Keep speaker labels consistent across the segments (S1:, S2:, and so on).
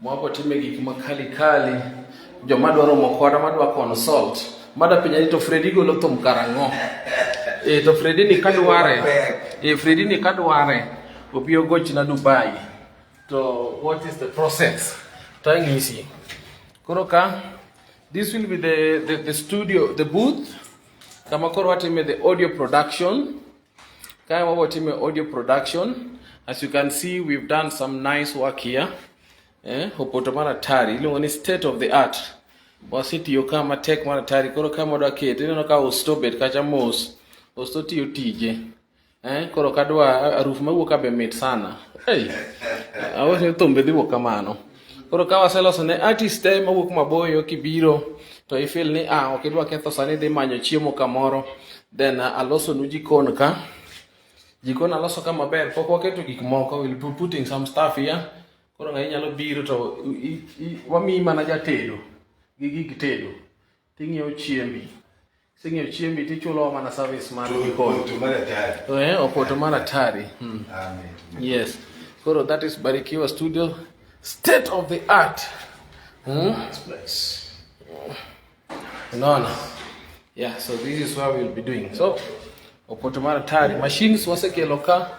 S1: Mwapo time gik ma kali kali, joma dwaro mokwara madwa consult, mada penja ni to Fredi golo thum karang'o? E, to Fredi ni kadware, e, Fredi ni kadware, opiyo goch na Dubai. To what is the process? To ang'isi. Koro ka, this will be the, the, the studio, the booth, kama koro watime the audio production, Kaya mambo time audio production. As you can see, we've done some nice work here. Eh, Opoto mara tari. Iluongo ni state of the art. Wasitiyo ka matek mara tari. Koro ka modo akete, ineno ka osto bet kacha mos. Osto tiyo tije. Eh, koro kadwa aruf mawuok abe mit sana. Hey, awase thumbe dhiwuok kamano. Koro ka waseloso ne artist te mawuok maboyo kibiro to ifil ni ah ok idwa ketho sani dhi manyo chiemo kamoro then uh, alosonu jikon ka jikon aloso ka maber pok waketo gik moko will be putting some stuff here koro ng'ayi nyalo biro to wamiyi mana jatedo gi gig tedo Ting'iewo chiembi. Kiseng'iewo chiembi to ichulo mana service mar jikon. Eh, opoto mar atari. Hmm.
S2: Yes.
S1: Koro that is Barikiwa Studio. State of the art. Hmm?
S2: No,
S1: no. Yeah, so this is what we'll be doing. So, opoto mar atari. Machines wasekelo ka.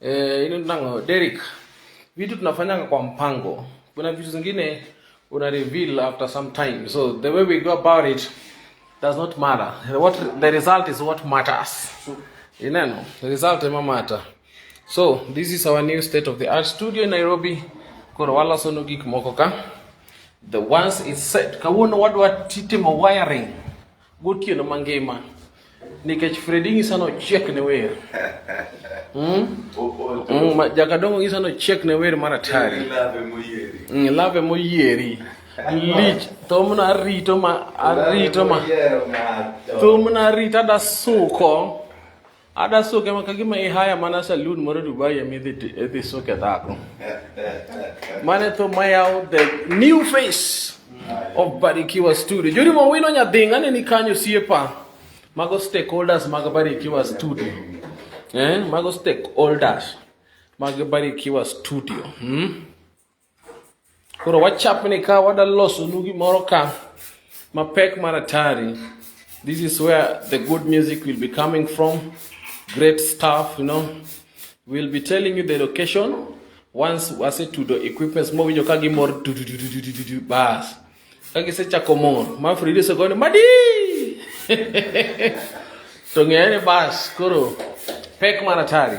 S1: Eh, ino nango Derek, vitu tunafanyanga kwa mpango. Kuna vitu zingine una reveal after some time, so the way we go about it does not matter. What the result is what matters. Ineno, the result ema matter. So this is our new state of the art studio in Nairobi. Koro wala sono gik moko ka. The once is set. Kawuono wadwa titimo wiring. Gotieno mangima nikech Fredi ng'isa ni ochiek ne wer. Mm? Mm, Jakadongo ng'isa ni ochiek ne wer mar atari. Mm, lave moyieri. Lich thumno arito ma arito ma thumno arito adasuko. Adaso kama kagima i haya mana saloon moro Dubai emi dhi dhi suke dhako. Mane tho mayawo the new face of Barikiwa Studio. Juri mo wino nyadhinga ne ni kanyo siepa. Mago stakeholders mag Barikiwa Studio. Eh, mago stakeholders mag Barikiwa Studio. Hmm? Koro wachapni ka wada losonu gimoro ka mapek mar atari. This is where the good music will be coming from. Great stuff, you know. We'll be telling you the location once wasetudo equipments mowinjo ka gimor bas ka gisechako mor ma Frida osegone madi to ng'eyane bas koro pek mar atari.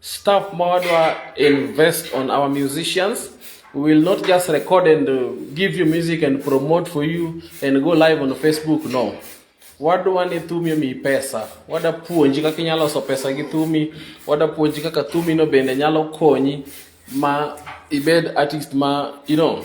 S1: Staff Mawadwa invest on our musicians. We will not just record and uh, give you music and promote for you and go live on Facebook. No. Wadwa ni thumi mi pesa. Wada puonji kaka inyalo loso pesa gi thumi. Wada puonji kaka thumi no bende nyalo konyi ma ibed artist ma you know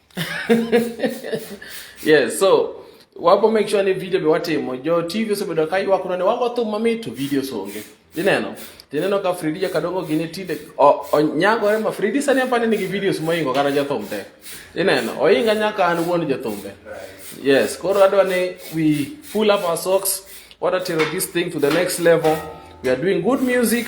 S1: yes so wapo make sure ni video biwatimo jo tv osebedo ka ywak none wago thum mamit to video songe ineno tineno ka fridi jakadongo gini tinde onyagore ma fridi sani apani nigi videos moingo kata jathum te ineno oinga nyaka an wuon jathumbe yes koro adwa ni we pull up our socks wadatero this thing to the next level we are doing good music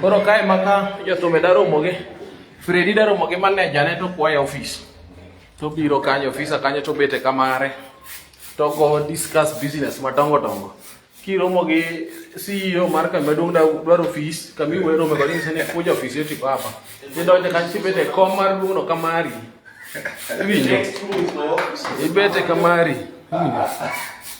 S1: Koro kae maka jotume daromo gi Fredi daromo gi maneja ne to kwaye ofis. To biro kanyo ofisa kanyo to bete kamare. To go discuss business madongo dongo. Kiromo gi CEO mar kambi maduong' da dwaro ofis, kambi wuoyo romo kod ng'ise ni kuja ofis yoti papa. Idonjo kanyo tibete e kom mar duong'no kamari. Iwinjo? Ibete kamari. Iwinjo?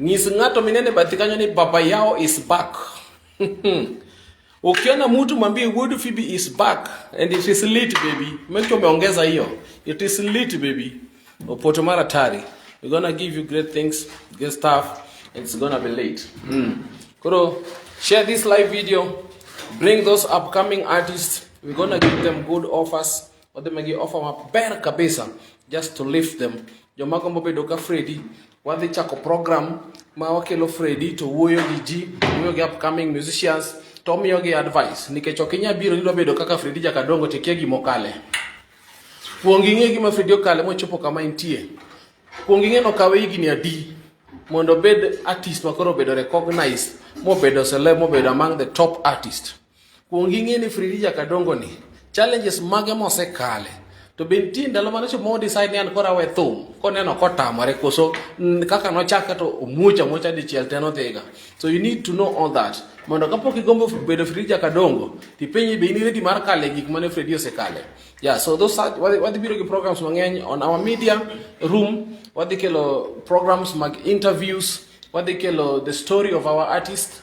S1: Ng'is ng'ato minene bathi kanyo ni baba yao is back. Ukiona mtu mwambie Wood Phoebe is back and it is lit baby. Make sure umeongeza hiyo. It is lit baby. Opoto mara tari. We're gonna give you great things, great stuff. It's gonna be late. Mm. Koro, share this live video. Bring those upcoming artists. We're gonna give them good offers. wadhi migi ofa maber kabisa just to lift them joma gombo bedo ka Freddy wadhi chako program ma wakelo Freddy to wuoyo gi ji wuoyo gi upcoming musicians to omiyo gi advice nikech ok inyal biro nidwa bedo kaka Freddy Jakadongo to ikia gima okale kuong ing'e gima Freddy okale mochopo kama intie kuong ing'e nokawe higni adi mondo obed artist makoro obedo recognized mobedo celeb mobedo among the top artist Kuong ing'e ni Fridija Kadongo ni challenges mage mosekale to be nitie ndalo mane chopo modecide ni an koro awe thum koneno kotamore koso kaka nochake to omuoch amuocha dichiel te nodhiga so you need to know all that mondo kapok igombo bedo frija kadongo tipenyi be in ready mar kale gik mane fredi osekale yeah so those are wadhi biro gi programs mang'eny on our media room wadhi kelo programs mag interviews wadhi kelo the story of our artist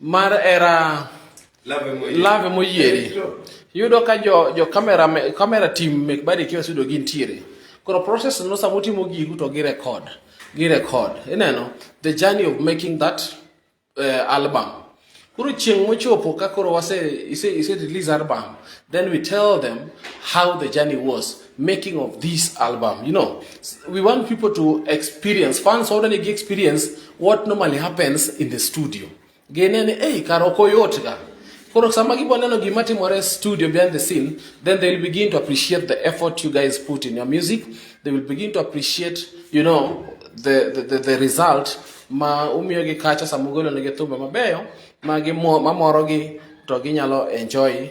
S1: Mar era lave moyieri. Yudo ka jo, jo kamera, kamera team mek bari kiwa sudo gintiere. Koro process no sama utimo gigu to gi record. Gi record. Ineno? The journey of making that uh, album. Koro chieng' mochopo ka koro wase ise, ise release album. Then we tell them how the journey was. making of this album. You know, we want people to experience, fans already experience what normally happens in the studio. Genene, hey, karoko yotka. Koro sama giboneno gima timore studio behind the scene, then they'll begin to appreciate the effort you guys put in your music. They will begin to appreciate, you know, the, the, the, the result ma umiyo gi kacha sama ugolo ne gi thumbe mabeyo ma mamorogi to ginyalo enjoy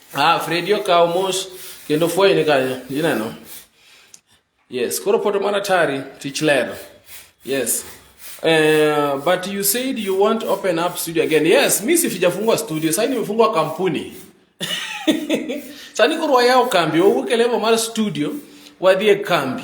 S1: Ah, Fredi okawo mos kendo fweny ni kanyo. Ineno? Yes, koro poto mana tari tich ler. Yes. Uh, but you said you want open up studio again. Yes, mimi sifijafungua studio. Sasa nimefungua kampuni. Sasa niko roho yao kambi, wewe ukelewa mara studio, wadie kambi.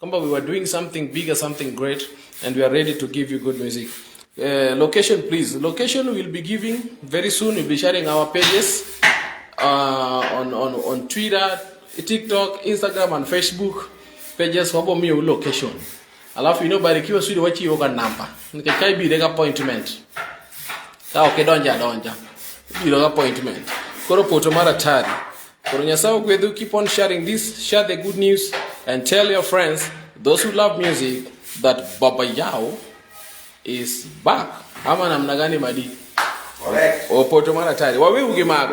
S1: Kwamba we were doing something bigger, something great and we are ready to give you good music. Uh, location please. Location we'll be giving very soon. We'll be sharing our pages uh, on, on, on Twitter, TikTok, Instagram and Facebook pages wabo miyo location. Alafu ino barikiwa sudi wachi yoga namba. Nikakai bi rega appointment. Ka oke donja donja. Bi rega appointment. Koro poto mara tari. Koro Nyasaye ogwedhu, keep on sharing this, share the good news and tell your friends, those who love music, that Baba Yao is back. Ama namna gani madi? Correct. Opoto mara tayari. Wawe uge mago.